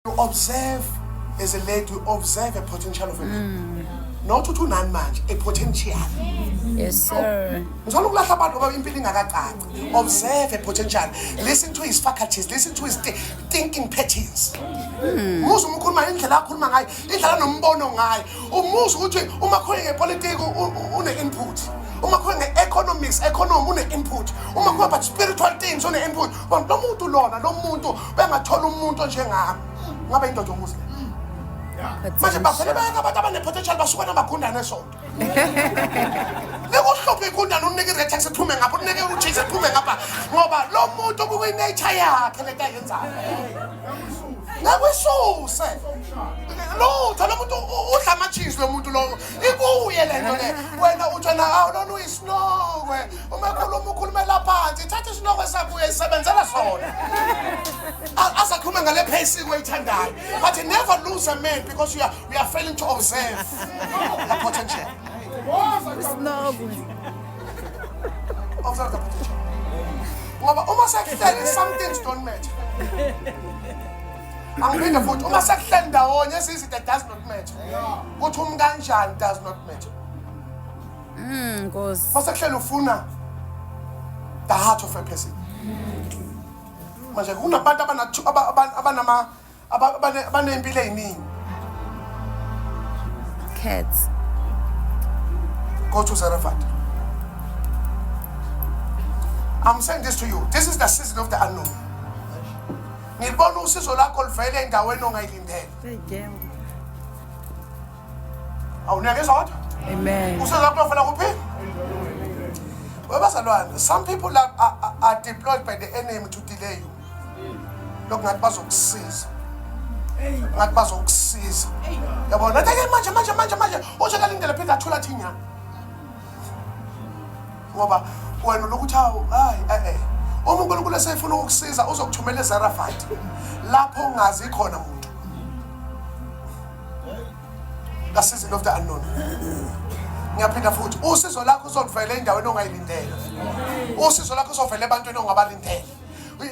You observe as a lady, you observe a potential of a man. Not ukuthi unani manje, a potential. Yes, sir. Ngizona ukulahla abantu ngoba impilo ingakacaci. Observe a potential. Listen to his faculties, listen to his thi- thinking patterns. Musa umkhuluma indlela akhuluma ngayo, indlela anombono ngayo. Umusa ukuthi uma khona ngepolitiki u- u- une input. Uma khona ngeeconomics, economy une input. Uma khona but spiritual things une input. But lo muntu lona, lo muntu bengathola umuntu onjengami ngabe indoda omuzi le manje bavele bayeka abantu abanepotential basuka namagundane esonto nikuhluphe igundane unike iretex iphume ngapha unike ujise iphume ngapha ngoba lo muntu kukwinature yakhe lento ayenzayo ngakwisuse lutho lo muntu udla ama-cheese lo muntu lowo ikuye le nto le wena utsho na awu lona uyisinokwe uma khuluma ukhulumela phansi thatha isinokwe sakho uyayisebenzela sona A- asakhulume ngale phesiko oyithandayo but never lose a man because you are, you are failing to observe the potential observe the potential ngoba uma sekuhleli some things don't matter angiphinde futhi uma sekuhleli ndawonye sizide does not matter ukuthi umkanjani does not matter Mm, Nkosi. masekuhlela ufuna the heart of a person manje kunabantu abanathu- aba- aba- abanama aba- abane- abaney'mpilo ey'ningi Cats. go to Zarephath. I'm saying this to you. This is the season of the unknown. Ngilibona usizo lakho livele endaweni ongayilindele. Seyigema. Awuneke zodwa. Amen. Usuza kunofuna kuphi? Webazalwane, some people are, are, are deployed by the enemy to delay you. Lokhu ngathi bazokusiza. Ngathi bazokusiza. Yabona, nathi manje manje manje manje uzokalindela phinde athula thinyana. ngoba wena lokuthi hawu hayi eh eh uma uNkulunkulu esefuna ukukusiza uzokuthumela eZarafat lapho ungazi khona muntu ka season of the unknown ngiyaphinda futhi usizo lakho uzoluvela endaweni ongayilindele usizo lakho uzovela ebantwini ongabalindele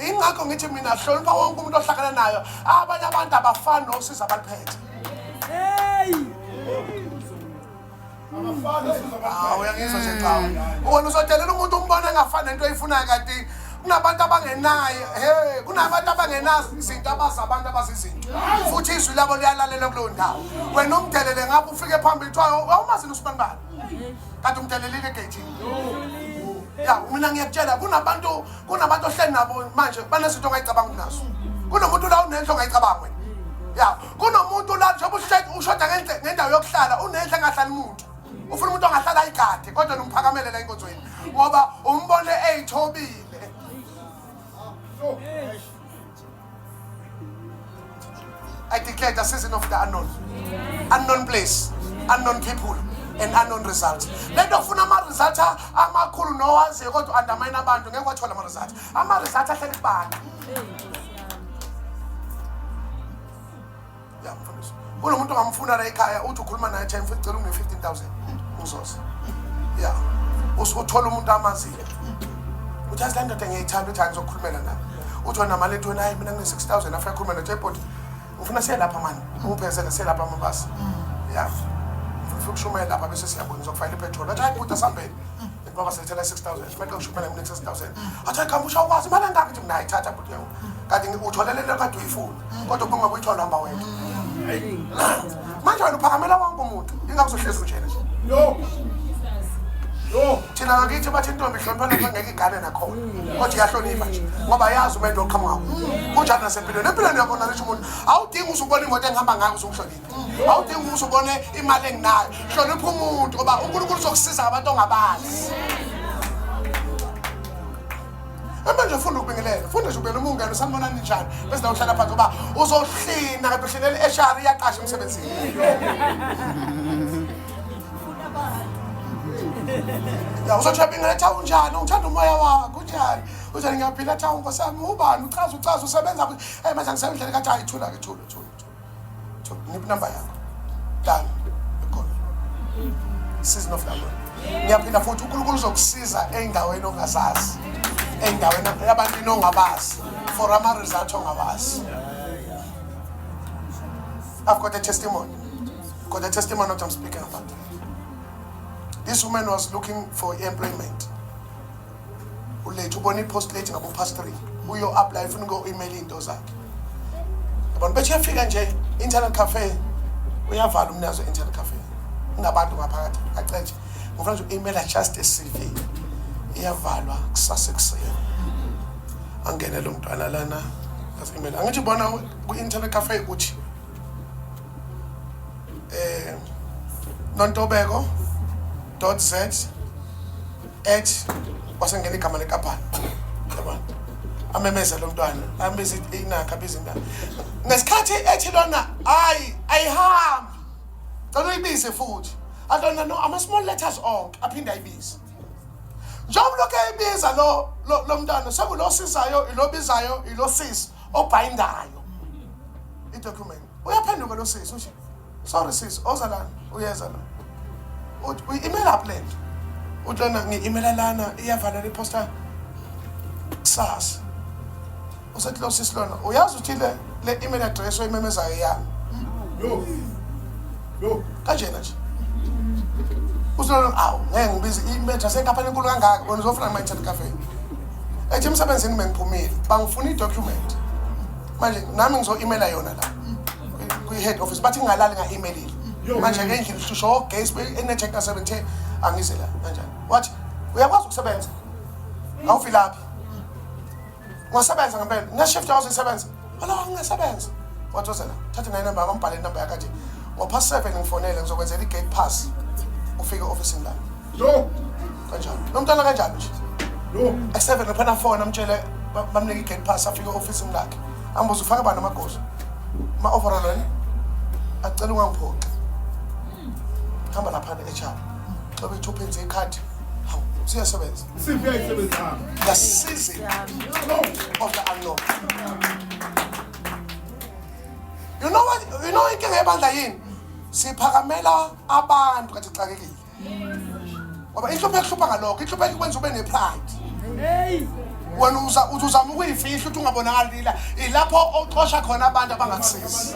ingakho ngithi mina hlonipha wonke umuntu ohlakana nayo abanye abantu abafani nosiza abaliphethe hey Ah, uyangizwa nje cha wena uzodelela umuntu umbona engafani nento oyifunayo kanti kunabantu abangenayo he kunabantu abangenazo izinto abazi abantu abazi izinto futhi izwi labo liyalalela kuleyo ndawo wena umdelele ngapho ufike phambili kuthiwa awumazini usibani bani kanti umdelelile egeyithini ya mina ngiyakutshela kunabantu kunabantu ohleli nabo manje banezinto ongayicabanga kunazo kunomuntu la unenhlo ongayicabanga wena ya kunomuntu la njengoba uhleki ushoda ngenhle- ngendawo yokuhlala unenhle engahlali muntu ufuna umuntu ongahlali ayigade kodwa nomphakamele la enkonzweni ngoba umbone eyithobile I declare the season of the unknown. Unknown place, unknown people, and unknown results. Lento funa ama results amakhulu nowaziyo kodwa undermine abantu ngeke wathola ama results. Ama-results ahleli kubani? Ya mfundisi. Kulo muntu ongamfuna la ekhaya uthi ukhuluma naye cha mfundisi cela unge 15000. Uzoze. Ya. Usuke uthola umuntu amazile. Uthi azi le ndoda ngiyayithanda uthi angizokhulumela naye. Uthi wena mali ethi wena hayi mina ngine 6000 afuna khuluma naye body. Ufuna siye lapha mani. Ungiphezele siye lapha mabasi. Ya. Ufuna ukushumayela lapha bese siyabona uzokufanele ipetrol. Athi hayi bhuti asambeni. Ngoba sengithela 6000, fanele ngishuphele mina 6000. Athi khamba usho kwazi imali engaka nje mina ayithatha bhuti yami. Kanti utholele le kade uyifuna. Kodwa ubunga kuyithola hamba wethu. Manje wena uphakamela wonke umuntu. Ingakuzohlezi unjena nje. Yo. Yo. Thina ngakithi bathi intombi ihloniphana ngeke igane nakhona. Kodwa iyahlonipha nje. Ngoba yazi umuntu oqhamuka. Kunjani nasempilweni. Empilweni yakho nalisho umuntu. Awudingi uzubona imoto engihamba ngayo uzumhlonipha. awudingi ukuthi ubone imali enginayo hlonipha umuntu ngoba unkulunkulu uzokusiza abantu ongabazi amanje funda ukubingelela funda nje ubela umungane usanibona ninjani bese nawe uhlala phansi ngoba uzohlina kanti uhlinela i-hr iyaqasha emsebenzini ya uzothi uyabingelela tha unjani ungithanda umoya wakho unjani uzothi ngiyaphila tha unkosami ubani uchaza uchaza usebenza um manje angisebendlela kathi hayi thula ke thula thula So, ngiphi number yakho? Dala. Ikhona. Season of London. Ngiyaphinda futhi uNkulunkulu uzokusiza endaweni ongazazi. Endaweni abantu ongabazi. For ama results ongabazi. I've got a testimony. Got a testimony what I'm speaking about. This woman was looking for employment. ulethe ubona i-post late ngabo past three uyo apply ufuna uko email into zakhe abantu bethe yafika nje internet cafe uyavala umnazo internet cafe ngabantu ngaphakathi acetshe ngifuna nje u-email just a CV iyavalwa kusasa ekuseni angene lo mntwana lana as email angithi bona ku internet cafe uthi eh nontobeko.z ethi wasengena igama lenkampani yabona amemeza lo mntwana ambiza inakha abiza intana ngesikhathi ethi lona hayi ayihambi cela uyibize futhi alona no ama-small letters onke aphinde ayibize njengoba lokhu eyibiza lo lo mntwana sekulo sizayo ilobizayo ilosisi obhayindayo idocument uyaphenduka lo sisi ushe sorry sis oza lana uyeza lo uthi uyi-email up le nto uthi lana ngi-imela lana iyavalelwa iphosta kusasa usethi lo sisi lona uyazi ukuthi le le email address oyimemezayo yami yo yo kanjena nje usolona awu ngeke ngibize imetha senkaphani enkulu kangaka wena uzofuna ngima-internet cafe ethi emsebenzini bengiphumile bangifuna i-document manje nami ngizo-imela yona la kwi-head office bathi ngingalali nga-imelile manje ke endlini hlushwa ogesi enetshek ka-seven ten angize la kanjani wathi uyakwazi ukusebenza awuvilaphi ungasebenza ngempela ngeshift yakwazi ukusebenza ala ngingasebenza wathi ozela thatha nayo inamba yakho mbhale inamba yakho nje ngopha seven ngifonele ngizokwenzela i-gate pass ufike e-ofisini lami Yo. Kanjani? Nomntana kanjani nje? Yo. Aseven lapha na phone amtshele ba- bamnike i-gate pass afike office lakhe. Ambuze ufaka bani amagoso? Ma overall wena. Acela ungangiphoxi. Hamba lapha ne-HR. Xa bethu uphenze ikhadi. Hawu, siyasebenza. Siphi ayisebenzi hamba. The season of the unknown. You know what? You know inkinga yebandla yini? Siphakamela abantu kathi xakekile. ngoba inhlupheko ihlupha ngalokho inhlupheko ikwenza ube nepride wena uza uthi uzama ukuyifihla ukuthi ungabonakali lila ilapho oxosha khona abantu abangakusizi